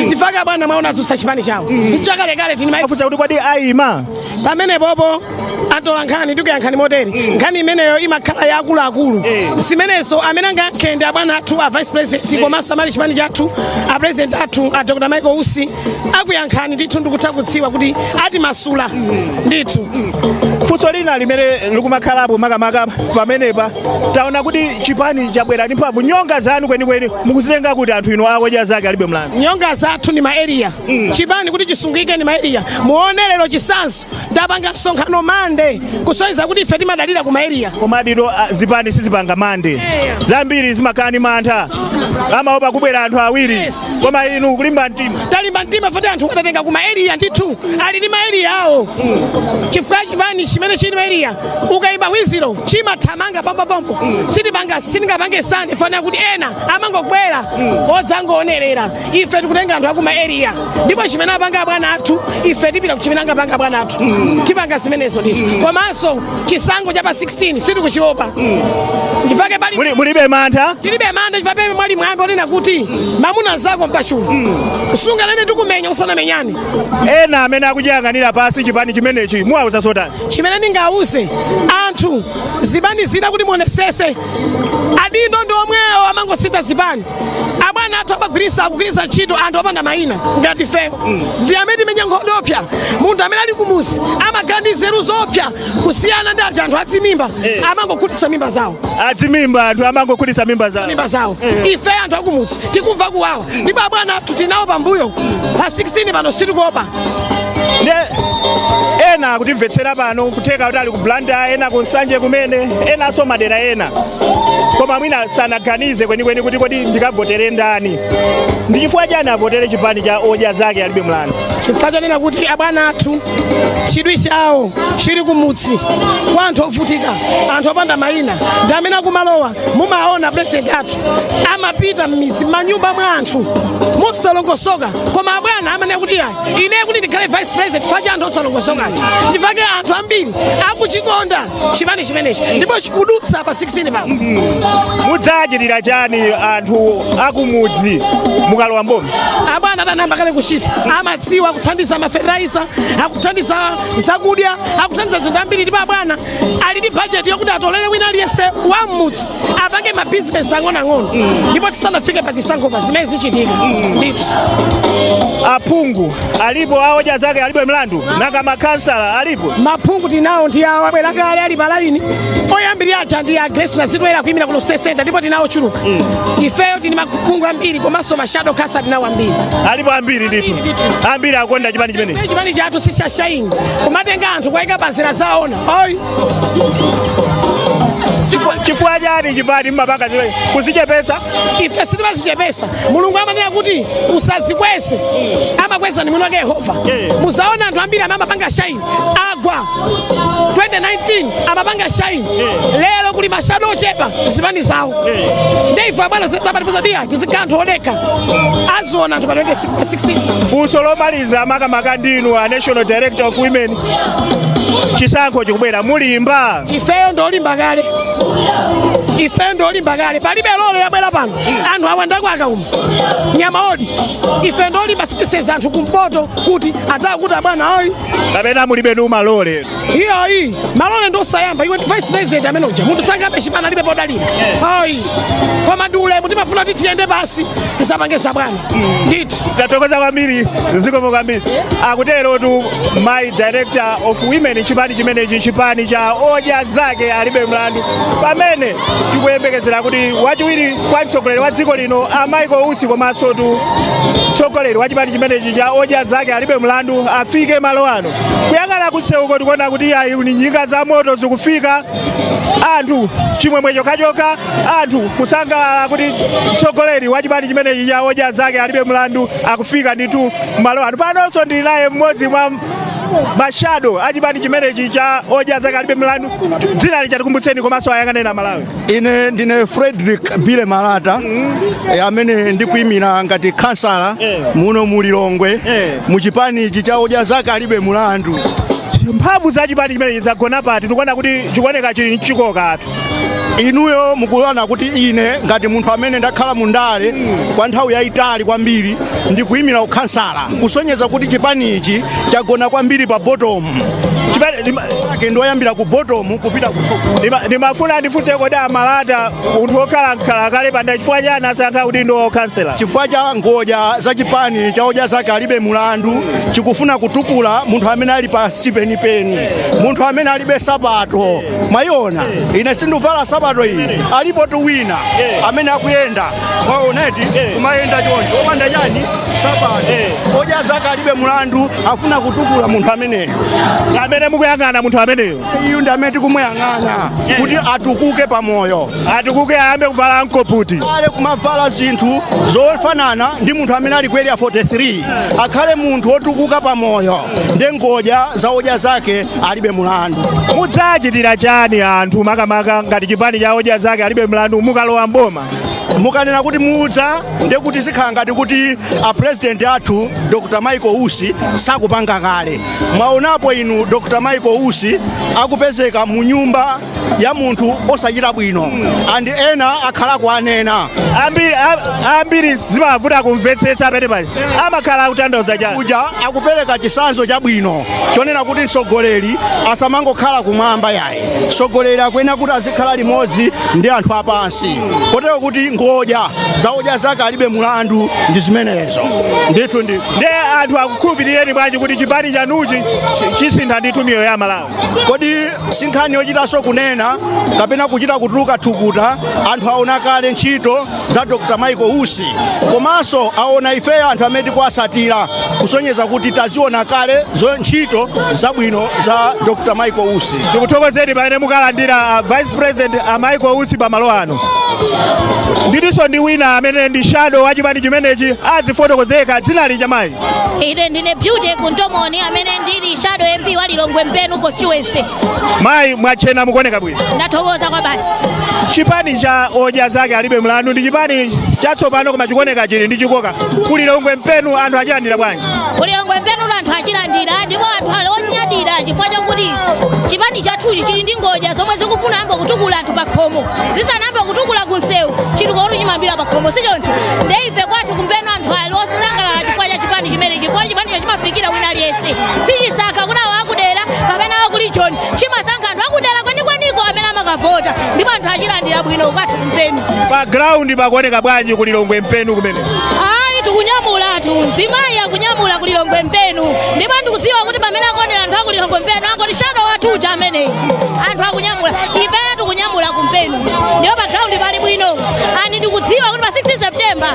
ndifake abwana mwaona adzutsa chipani chawo mchakalekale timafunsa kuti kodi ayima pamene popo atola nkhani ndikuyankhani motere nkhani imeneyo imakhala ya akuluakulu zimenenso amene angayankhe ndi abwana athu a vice president komanso amali chipani chathu a president athu a dr michael usi akuyankhani ndithu ndikutha kudziwa kuti atimasula ndithu funso lina limene likumakhalapo makamaka pamenepa taona kuti chipani chabwera ndi mphamvu nyonga zanu kwenikweni mukuzitenga kuti anthu inu a odya zake alibe mlandu nyonga zathu ndi maeriya chipani kuti chisungike ndi maeriya muone lero chisanzo ndapanga msonkhano mande kusonyeza kuti ife timadalira ku maeriya koma adito zipani sizipanga mande zambiri zimakhala ndi mantha amaopa kubwera anthu awiri koma inu kulimba mtima talimba mtima foti anthu tawatenga ku maeriya ndithu ali ndi maeriya awo chifukwa chipani chimene chili maeriya ukayimba wiziro chimathamanga pompopompo sitipanga sitingapange sande fana kuti ena amangobwera odzangoonerera ife tikutenga anthu akuma area ndipo chimene apanga abwana athu ife tipita ku chimene angapanga abwana athu tipanga zimenezo ndithu komanso chisankho cha pa 16 sitikuchiopa ndifake pali mulibe mantha tilibe mantha chifukwa pali mwambi onena kuti mamuna zako mpachulu sunganene ndikumenya musanamenyane ena amene akuchiyang'anira pasi chipani chimenechi muwauza zotani chimene ndingawauze anthu zipani zina kuti muonesese adindo ndi omwewo amangosintha zipani abwana athu amagwirisa akugwirisa ntchito anthu opanda mayina ngati ifeyo ndi amene timenya nkhondo opsa munthu amene ali kumuzi amakhala ndi nzeru zopsa kusiyana ndi aja anthu adzimimba amangokhutisa mimba zawo adzimimba anthu amangokhutisa mimba zawo mimba zawo ife anthu akumudzi tikumva kuwawa ndipo abwana athu tinawo pambuyo pa 16 pano sitikuopa nde ena akutimvetsera pano kutheka kuti ali ku blantyre ena ku nsanje kumene enanso madera ena koma mwina sanaganize kwenikweni kuti kodi ndikavotere ndani ndi chifukwa chani avotere chipani cha odya zake alibe mlandu chifukwa chonena kuti abwana athu chidwi chawo chili kumudzi kwa anthu ovutika anthu opanda mayina ndi amene akumalowa mumaona president athu amapita m'midzi manyumba mwa anthu mosalongosoka koma abwana amanena kuti ayi ine kuti ndikhale vice president fa cha anthu osalongosokawa ndifake anthu ambiri akuchikonda chipani chimenechi ndipo chikudutsa pa 16 pano mudzachitira chani anthu akumudzi mukalowa mboma abwana adayamba kale kuchita amadziwa akuthandiza mafetereza akuthandiza zakudya akuthandiza zinthu zambiri ndipo abwana ali ndi bajeti yokuti atolere wina aliyense wa m'mudzi apange mabizinesi ang'onoang'ono ndipo tisanafike pa zisankho pa zimene zichitika ndithu aphungu alipo a odya zake alibe mlandu nanga makhansala alipo maphungu tinawo ndi awo abwera kale ali palaini oyambirira aja ndi a Grace nazitoyera kuyimira kuno city center ndipo tinawo ochuluka ifeyo tini maphungu ambiri komanso mashado khansala tinawo ambiri alipo ambiri ndithu ambiri akonda chipani chimene chipani chathu sichashaini kumatenga anthu kuwayika pa nzira zaona ayi chifukwa chani chipani mmapanga chile kuzichepetsa ife sitimazichepesa mulungu amanena kuti usazikweze amakweza ni mwini wake yehova Yeah. muzaona anthu ambiri amene amapanga shaini agwa 2019 amapanga shaini Yeah. lero kuli mashado ochepa zipani zawo Yeah. nde ife abwana zimene amatiuza tiyeni tizikhala anthu odekha aziona anthu pa 16 funso lomaliza makamaka ndinu a national director of women chisankho chikubwera mulimba ifeyo ndolimba kale ifeyo ndolimba kale palibe lole yabwera pano anthu awandako akauma nyama odi ife ndolimba sitiseza anthu kumpoto kuti adzakuti abwana oyi kapena mulibe ndi malole iyoyi malole ndosayamba iwe ndi vice president amene uja munthu sangabe chipani alibe podalira oyi koma ndi ulemu timafuna kuti tiyende pasi tisapangesa bwana ndithu tathokoza kwambiri zikomo kwambiri akuterotu mayi director of women chipani chimenechi chipani cha odya zake alibe mlandu pamene tikuyembekezera kuti wachiwiri kwa mtsogoleri wa dziko lino a michael usi komanso tu mtsogoleri wa chipani chimenechi cha odya zake alibe mlandu afike malo ano kuyang'ana kutseuko tikuona kuti ayi ndi njinga za moto zikufika anthu chimwemwe chokhachokha anthu kusangalala kuti mtsogoleri wa chipani chimenechi cha odya zake alibe mlandu akufika ndithu malo ano panonso ndili naye mmodzi mwa mashado a chipani chimenechi cha odya zake alibe mlandu dzina lija tikumbutseni komanso ayang'aneni amalawi ine ndine frederick bile malata eh, amene ndikuimira ngati khansala Eh. muno mu lilongwe Eh. mu chipani ichi cha odya zake alibe mulandu mphamvu za chipani chimenechi zagona pati tikuona kuti chikuoneka chili nchikokatu inuyo mukuona kuti ine ngati munthu amene ndakhala mu ndale kwa nthawi yayitali kwambiri ndikuyimira ukhansala kusonyeza kuti chipani ichi chagona kwambiri pa botomu Chipani- lima- ake ndioyambira ku botomu kupita ku top ndima- ndimafuna ndifunse kodi a Malata munthu wokhala mkhala kale pa ndale chifukwa chani asankha kuti ndi ukhansala chifukwa cha ngodya za chipani cha odya zake alibe mulandu chikufuna kutukula munthu amene ali pansi penipeni munthu amene alibe sapato mwayiona ine sindikuvala sapato iyi alipotu wina amene akuyenda mwaonadi kumayenda choncho opanda chani sapato odya zake alibe mulandu afuna kutukula munthu ameneyo amene mukuyang'ana munthu ameneyo iyu ndi amene tikumuyang'ana kuti atukuke pamoyo atukuke ayambe kuvala mkoputi ale kumavala zinthu zofanana ndi munthu amene ali ku area 43 akhale munthu wotukuka pamoyo nde ngodya za odya zake alibe mulandu mudzachitira chani anthu makamaka ngati chipani cha odya zake alibe mulandu mukalowa mboma mukanena kuti mudza nde kuti zikhala ngati kuti a president athu dr michael usi sakupanga kale mwaonapo inu dr michael usi akupezeka mu nyumba ya munthu osachita bwino and ena akhala kuanena ambiri zimavuta kumvetsetsa pamene paja amakhala akutanthauza chani uja akupereka chisanzo chabwino chonena kuti mtsogoleri asamangokhala kumwamba yayi mtsogoleri akuyenera kuti azikhala limodzi ndi anthu apansi kotero kuti ngodya za odya zake alibe mulandu ndi zimenezo ndithu ndithu nde anthu akukhulupirireni bwanji kuti chipani chanuchi chisintha ndithu miyoyo ya amalawi kodi si nkhani yochitanso kunena kapena kuchita kutuluka thukuta anthu aona kale ntchito za dr michael usi komanso aona ifeyo anthu amene tikuwatsatira kusonyeza kuti taziona kale zo ntchito zabwino za dr michael usi tikuthokozeni pamene mukalandira a vice president a michael usi pamalo ano ndi tilinso ndi wina amene ndi shadow wa chipani chimenechi adzifotokozeka dzina lija mayi ine ndine beauty kuntomoni amene ndili shadow mp wa lilongwe mpenu constituency mayi mwatchena mukuoneka bwino ndathokoza kwabasi chipani cha odya zake alibe mulandu ndi chipani chatsopano koma chikuoneka chili ndi chikoka ku lilongwe mpenu anthu achilandira bwanji ku lilongwe mpenu anthu achilandira ndipo anthu ali onyadira chifukwa chakuti chipani chathuchi chili ndi ngodya zomwe zikufuna kuyamba kutukula anthu pakhomo zisanayambe kutukula kunsewu chitukukotu chimayambira pakhomo sichoncho nde ife kwathu kumpenu anthu osangalala chifukwa cha chipani chimenechi chifukwa chipanicho chimafikira wina aliyense sichisankha kuti awo akudera kapena akuli choni chimasankha anthu akudera kwenikweniko amene amakavota ndipo anthu achilandira bwino kwathu kumpenu pa ground pakuoneka bwanji kulilongwe mpenu kumene ayi tikunyamulatu mzimayi akunyamula kulilongwe mpenu ndipo ndikudziwa kuti pamene akuonera anthu akulilongwe mpenu angoti shadow wathu uja ameneyu anthu akunyamula ifeyo tikunyamula kumpenu ndipo pa ground pali bwino and ndikudziwa kuti pa 16 september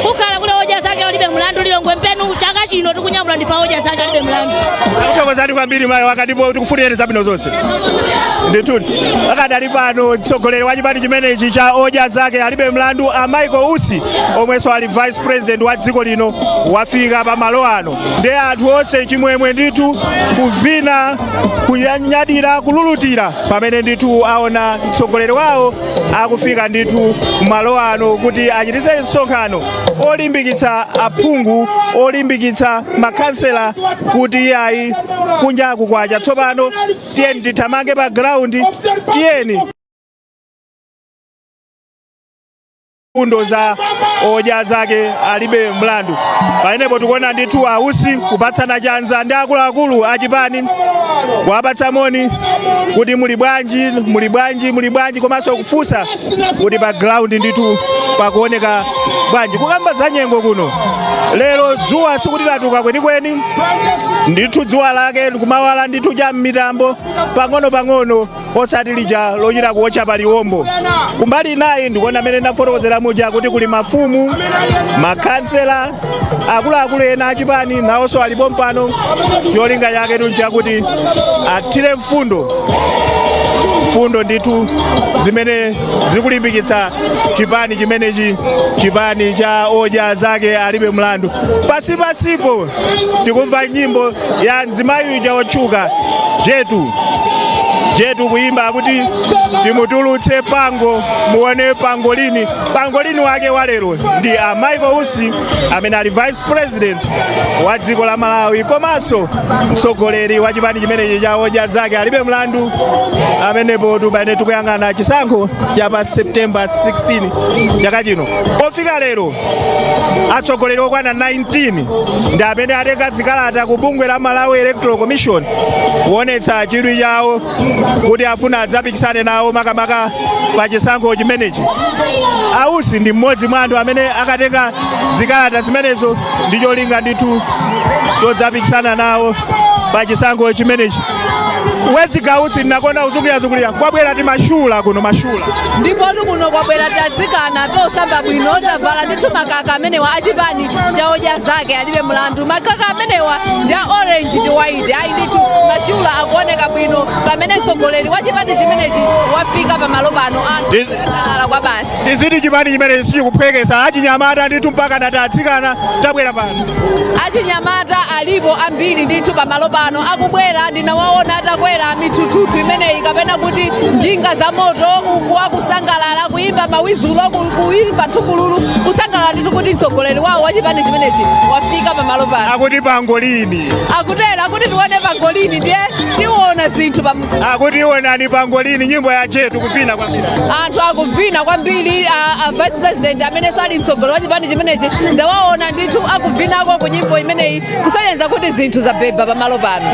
kukhala kuli odya zake alibe mulandu lilongwe mpenu chaka chino tikunyamula ndife a odya zake alibe mulandu takuthokozani kwambiri mayi wanga ndipo tikufunireni zabwino zonse ndithudi akadali pano mtsogoleri wa chipani chimenechi cha odya zake alibe mulandu a michael usi omwenso ali vice president wa dziko lino wafika pa malo ano ndi anthu onse chimwemwe ndithu kuvina kunyadira kululutira pamene ndithu aona mtsogoleri wawo akufika ndithu kumalo ano kuti achititse msonkhano olimbikitsa aphungu olimbikitsa makhansela kuti iyayi kunja kukwacha tsopano tiyeni tithamange pa ground tiyeni mfundo za odya zake alibe mlandu pamenepo tikuona ndithu a Usi kupatsana chanza ndi akuluakulu achipani kuwapatsa moni kuti muli bwanji muli bwanji muli bwanji komanso kufunsa kuti pa ground ndithu pakuoneka bwanji kukamba za nyengo kuno lero dzuwa sikuti latuka kwenikweni ndithu dzuwa lake likumawala ndithu cha m'mitambo pang'ono pang'ono osati lija lochita kuotcha pa liwombo kumbali inayi ndikuona amene ndinafotokozera muja kuti kuli mafumu makhansela akuluakulu ena achipani nawonso ali pompano cholinga chake tu n'chakuti athire mfundo mfundo ndithu zimene zikulimbikitsa chipani chimenechi chipani cha odya zake alibe mlandu pasipasipo tikumva nyimbo ya mzimayi uja wotchuka jetu jetu kuyimba akuti timutulutse pango muone pangolini pangolini wake wa lero ndi a michael usi amene ali vice president wa dziko la malawi komanso mtsogoleri wa chipani chimenechi cha odya zake alibe mlandu amenepo tu pamene tikuyang'ana chisankho cha pa september 16 chaka chino pofika lero atsogoleri okwana 19 ndi amene atenga zikalata ku bungwe la malawi electoral commission kuonetsa chidwi chawo kuti afuna adzapikisane nawo makamaka pa chisankho chimenechi a Usi ndi mmodzi mwa anthu amene akatenga zikalata zimenezo ndi cholinga ndithu chodzapikisana nawo pa chisankho chimenechi wezi gausi ndinakonda uzungulira-zungulira kwabwera timashula kuno mashula ndipotu kuno kwabwera tatsikana tosamba bwino tavala ndithu makaka amenewa achipani cha odya zake alibe mlandu makaka amenewa ndi a orange ndi white ayi ndithu mashula akuoneka bwino pamene mtsogoleri wa chipani chimenechi wafika pamalo pano Ndi- anala kwa basi tiziti chipani chimenechi sichikuphwekesa achinyamata ndithu mpaka natatsikana tabwera pano achinyamata alipo ambiri ndithu pamalo pano akubwera ndinawaona atakwera mithuthuthu imeneyi kapena kuti njinga za moto uku akusangalala kuliza mawizulo ku- kuyimba thukululu kusangalala ndithu kuti mtsogoleri wawo wa chipani chimenechi wafika pamalo pano akuti pangolini akutera kuti tione pangolini ndiye tiona zinthu pa akuti iwonani pangolini nyimbo ya jetu kuvina kwambiri anthu akuvina kwambiri a, a vice president amene sali mtsogoleri wa chipani chimenechi ndawaona ndithu akuvinako ku nyimbo imeneyi kusonyeza kuti zinthu zabeba pamalo pano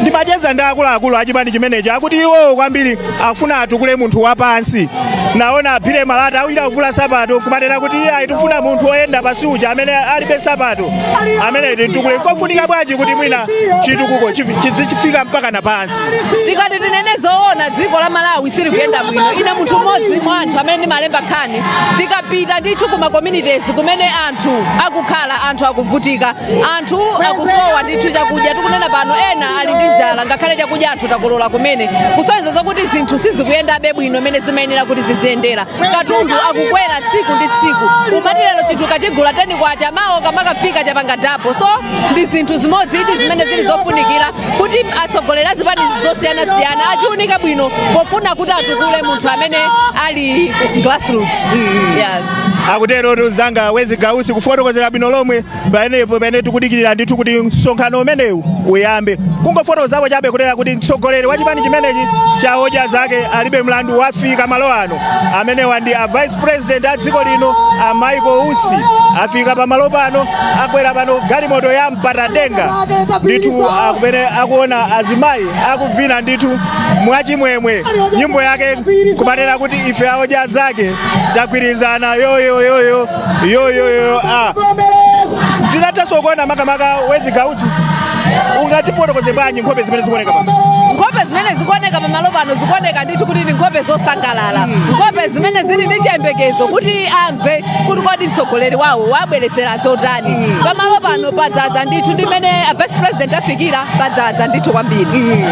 ndimacheza ndi akuluakulu a chipani chimenechi akuti iwowo kwambiri akufuna atukule munthu wapansi naona aphire malata akuchita kuvula sapato kumanena kuti iye ayi tifuna munthu woyenda pansi uja amene alibe sapato ameneyo timutukule nkofunika bwanji kuti mwina chitukuko chifi- chidzifika mpaka na pansi tikati tinene zoona dziko la malawi silikuyenda bwino ine munthu mmodzi mwa anthu amene ndimalemba nkhani tikapita ndithu kuma communities kumene anthu akukhala anthu akuvutika anthu akusowa ndithu chakudya tikunena pano ena ali ndi njala ngakhale chakudya anthu takolola kumene kusonyeza zokuti zinthu sizikuyendabe bwino mmene zimayenera kuti ziziyendera katundu akukwera tsiku ndi tsiku kumati lero chinthu ukachigula teni kwacha mawo ukamakafika chapanga double so ndi zinthu zimodzi ndithu zimene zili zofunikira kuti atsogoleri a zipani zosiyanasiyana achiunike bwino pofuna kuti atukule munthu amene ali grassroots yeah. akutero mnzanga wezi gausi kufotokozera bwino lomwe paenepo pamene tikudikirira ndithu kuti msonkhano umenewu uyambe kungofotokozapo chabe kutera kuti mtsogoleri wa chipani chimenechi cha odya zake alibe mlandu wafika malo ano amenewa ndi a vice president a dziko lino a michael usi afika pamalo pano akwera pano galimoto ya mpatadenga ndithu akumene akuwona azimayi akuvina ndithu mwachimwemwe nyimbo yake kumanena kuti ife aodya zake tagwirizana yoyoyoyo yoyoyo a tingathenso kuona makamaka wezi gausi ungazifotokoze bwanji nkhope zimene zikuoneka pano nkhope zimene zikuoneka pamalo pano zikuoneka ndithu kuti ndi nkhope zosangalala nkhope zimene zili ndi chiyembekezo kuti amve kuti kodi mtsogoleri wawo wabweretsera zotani pamalo pano padzadza ndithu ndi mmene a vice president afikira padzadza ndithu kwambiri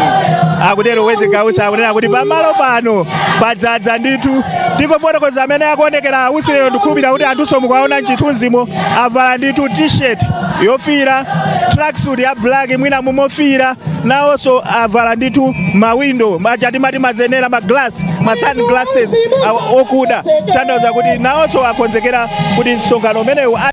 akutero wezi gausi akunena kuti pamalo pano padzadza ndithu ndingofotokoza mmene akuonekera a usi lero ndikhulupirira kuti anthunso mukuwaona m'chithunzimo avala ndithu t-shirt yofiira tracksuit ya black mwina mumofiira nawonso avala ndithu mawindo aja timati mazenera ma glass ma sun glasses awa- okuda kutanthauza kuti nawonso akonzekera kuti msonkhano umenewu a-